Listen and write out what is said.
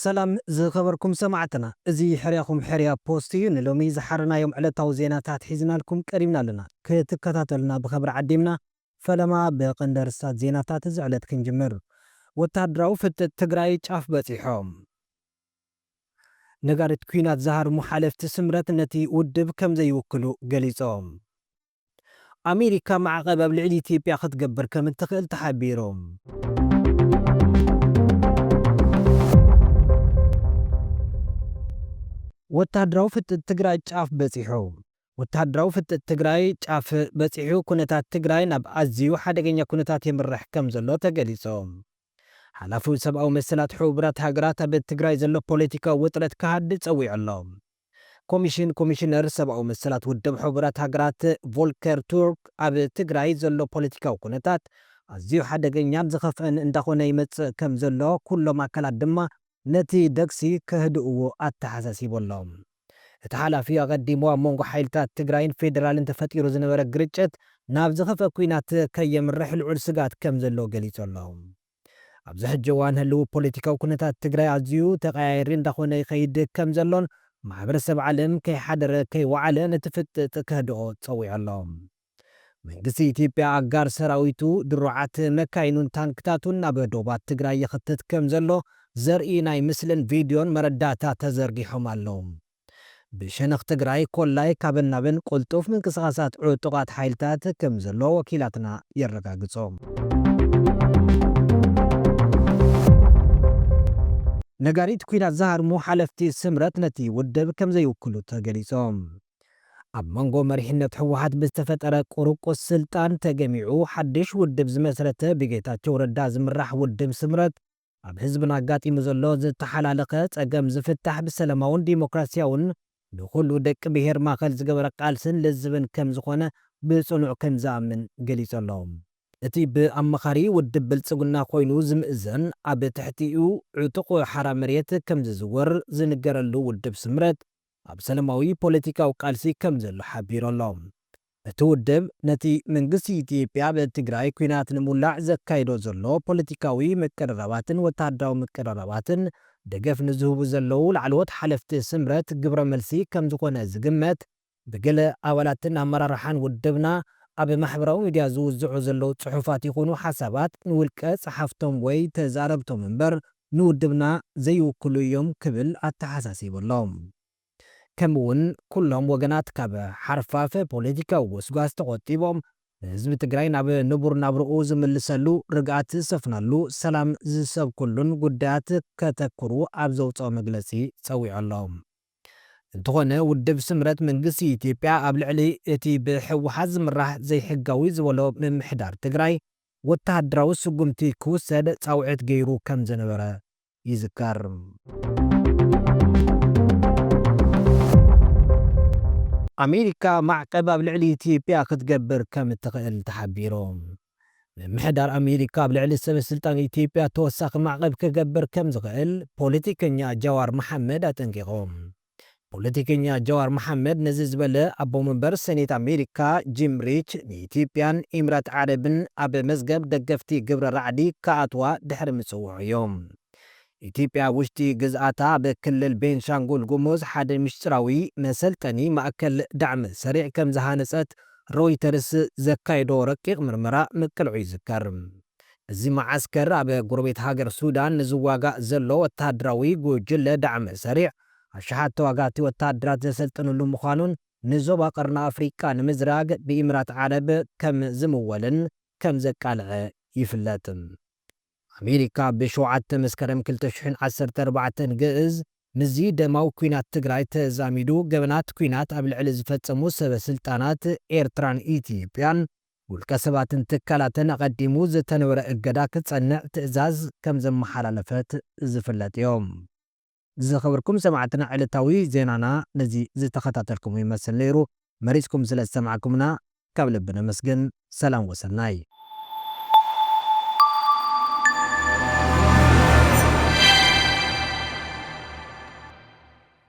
ሰላም ዝኸበርኩም ሰማዕትና እዚ ሕርያኹም ሕርያ ፖስት እዩ ንሎሚ ዝሓረናዮም ዕለታዊ ዜናታት ሒዝናልኩም ቀሪብና ኣለና ክትከታተሉና ብኸብሪ ዓዲምና ፈለማ ብቐንዲ ኣርስታት ዜናታት እዚ ዕለት ክንጅምር ወታሃደራዊ ፍጥጥ ትግራይ ጫፍ በፂሖ። ነጋሪት ኲናት ዝሃርሙ ሓለፍቲ ስምረት ነቲ ውድብ ከም ዘይውክሉ ገሊጾም። ኣሜሪካ ማዕቐብ ኣብ ልዕሊ ኢትዮጵያ ክትገብር ከም እትኽእል ተሓቢሩ። ወተሃደራዊ ፍጥጥ ትግራይ ጫፍ በፂሑ! ወተሃደራዊ ፍጥጥ ትግራይ ጫፍ በፂሑ ኩነታት ትግራይ ናብ ኣዚዩ ሓደገኛ ኩነታት የምርሕ ከም ዘሎ ተገሊፁ። ሓላፊ ሰብኣዊ መሰላት ሕቡራት ሃገራት ኣብ ትግራይ ዘሎ ፖለቲካዊ ውጥረት ክሃድእ ጸዊዑ ኣሎ። ኮሚሽን ኮሚሽነር ሰብኣዊ መሰላት ውድብ ሕቡራት ሃገራት ቮልከር ቱርክ ኣብ ትግራይ ዘሎ ፖለቲካዊ ኩነታት ኣዝዩ ሓደገኛን ዝኸፍኣን እንዳኾነ ይመጽእ ከምዘሎ ኩሎም ኣካላት ድማ ነቲ ደግሲ ከህድእዎ ኣተሓሳሲቦሎም። እቲ ሓላፊ ኣቐዲሙ ኣብ መንጎ ሓይልታት ትግራይን ፌደራልን ተፈጢሩ ዝነበረ ግርጭት ናብ ዝኸፍኣ ኲናት ከየምርሕ ልዑል ስግኣት ከም ዘሎ ገሊጹ ኣሎ። ኣብዚ ሕጂ እዋን ህልዊ ፖለቲካዊ ኩነታት ትግራይ ኣዝዩ ተቐያያሪ እንዳኾነ ይኸይድ ከም ዘሎን ማሕበረሰብ ዓለም ከይሓደረ ከይወዓለ ነቲ ፍጥጥ ከህድኦ ጸዊዑ ኣሎ። መንግስቲ ኢትዮጵያ ኣጋር ሰራዊቱ፣ ድሩዓት መካይኑን ታንክታቱን ናብ ዶባት ትግራይ ይኽትት ከም ዘሎ ዘርኢ ናይ ምስልን ቪድዮን መረዳእታ ተዘርጊሖም ኣለዉ። ብሸነኽ ትግራይ ኮላይ ካብን ናብን ቅልጡፍ ምንቅስቓሳት ዕጡቓት ሓይልታት ከም ዘሎ ወኪላትና የረጋግጹ። ነጋሪት ኲናት ዝሃርሙ ሓለፍቲ ስምረት ነቲ ውድብ ከም ዘይውክሉ ተገሊጾም። ኣብ መንጎ መሪሕነት ህወሓት ብዝተፈጠረ ቁርቁስ ስልጣን ተገሚዑ ሓድሽ ውድብ ዝመስረተ ብጌታቸው ረዳ ዝምራሕ ውድብ ስምረት ኣብ ህዝብና ኣጋጢሙ ዘሎ ዝተሓላለኸ ፀገም ዝፍታሕ ብሰለማውን ዲሞክራሲያውን ንኹሉ ደቂ ብሄር ማእኸል ዝገበረ ቃልስን ልዝብን ከምዝኾነ ብፅኑዕ ከምዝኣምን ገሊፁ ኣሎ። እቲ ብኣማኻሪ ውድብ ብልፅግና ኮይኑ ዝምእዘን ኣብ ትሕቲኡ ዕጡቕ ሓራ መሬት ከምዝዝወር ዝንገረሉ ውድብ ስምረት ኣብ ሰለማዊ ፖለቲካዊ ቃልሲ ከምዘሎ ሓቢሩ ኣሎ። እቲ ውድብ ነቲ መንግስቲ ኢትዮጵያ ኣብ ትግራይ ኲናት ንምውላዕ ዘካይዶ ዘሎ ፖለቲካዊ ምቅርራባትን ወተሃደራዊ ምቅርራባትን ደገፍ ንዝህቡ ዘለዉ ላዕለዎት ሓለፍቲ ስምረት ግብረ መልሲ ከምዝኾነ ዝግመት ብገለ ኣባላትን ኣመራርሓን ውድብና ኣብ ማሕበራዊ ሚድያ ዝውዝዑ ዘለዉ ጽሑፋት ይኹኑ ሓሳባት ንውልቀ ጸሓፍቶም ወይ ተዛረብቶም እምበር ንውድብና ዘይውክሉ እዮም ክብል ኣተሓሳሲቡ ኣሎ። ከምኡ ውን ኩሎም ወገናት ካብ ሓርፋፍ ፖለቲካዊ ጎስጓስ ተቖጢቦም ህዝቢ ትግራይ ናብ ንቡር ናብርኡ ዝምልሰሉ፣ ርግኣት ዝሰፍነሉ፣ ሰላም ዝሰብክሉን ጉዳያት ከተኩሩ ኣብ ዘውፀኦ መግለፂ ፀዊዑ ኣሎ። እንተኾነ ውድብ ስምረት መንግስቲ ኢትዮጵያ ኣብ ልዕሊ እቲ ብህወሓት ዝምራሕ ዘይሕጋዊ ዝበሎ ምምሕዳር ትግራይ፣ ወተሃደራዊ ስጉምቲ ክውሰድ ጻውዒት ገይሩ ከም ዝነበረ ይዝከር። ኣሜሪካ ማዕቀብ ኣብ ልዕሊ ኢትዮጵያ ክትገብር ከም እትኽእል ተሓቢሩ። ምምሕዳር ኣሜሪካ ኣብ ልዕሊ ሰበስልጣን ኢትዮጵያ ተወሳኺ ማዕቀብ ክገብር ከም ዝኽእል ፖለቲከኛ ጃዋር መሓመድ ኣጠንቂቑ። ፖለቲከኛ ጃዋር መሓመድ ነዚ ዝበለ ኣቦ መንበር ሰኔት ኣሜሪካ ጂም ሪች ንኢትዮጵያን ኢምራት ዓረብን ኣብ መዝገብ ደገፍቲ ግብረ ራዕዲ ክኣትዋ ድሕሪ ምፅውዑ እዩ። ኢትዮጵያ ኣብ ውሽጢ ግዝኣታ ኣብ ክልል ቤንሻንጉል ጉሙዝ ሓደ ሚስጢራዊ መሰልጠኒ ማእከል ዳዕመ ሰሪዕ ከምዝሃነፀት ሮይተርስ ዘካየዶ ረቂቕ ምርመራ ምቅልዑ ይዝከር። እዚ መዓስከር ኣብ ጎረቤት ሃገር ሱዳን ንዝዋጋእ ዘሎ ወተሃደራዊ ጉጅለ ዳዕመ-ሰሪዕ ኣሽሓት ተዋጋእቲ ወተሃደራት ዘሰልጥንሉ ምዃኑን ንዞባ ቀርኒ ኣፍሪቃ ንምዝራግ ብኢምራት ዓረብ ከም ዝምወልን ከም ዘቃልዐ ይፍለጥ። ኣሜሪካ ብ ሸውዓተ መስከረም ክልተ ሽሕን ዓሰርተ ኣርባዕተን ግእዝ ምስዚ ደማዊ ኲናት ትግራይ ተዛሚዱ ገበናት ኲናት ኣብ ልዕሊ ዝፈጸሙ ሰበ ስልጣናት ኤርትራን ኢትዮጵያን ውልቀ ሰባትን ትካላትን ኣቐዲሙ ዝተንበረ እገዳ ክጸንዕ ትእዛዝ ከም ዘመሓላለፈት ዝፍለጥዮ። ዝኸበርኩም ሰማዕትና ዕለታዊ ዜናና ነዚ ዝተኸታተልኩሞ ይመስል ነይሩ። መሪጽኩም ስለ ዝሰማዕኩምና ካብ ልቢ ነመስግን። ሰላም ወሰናይ።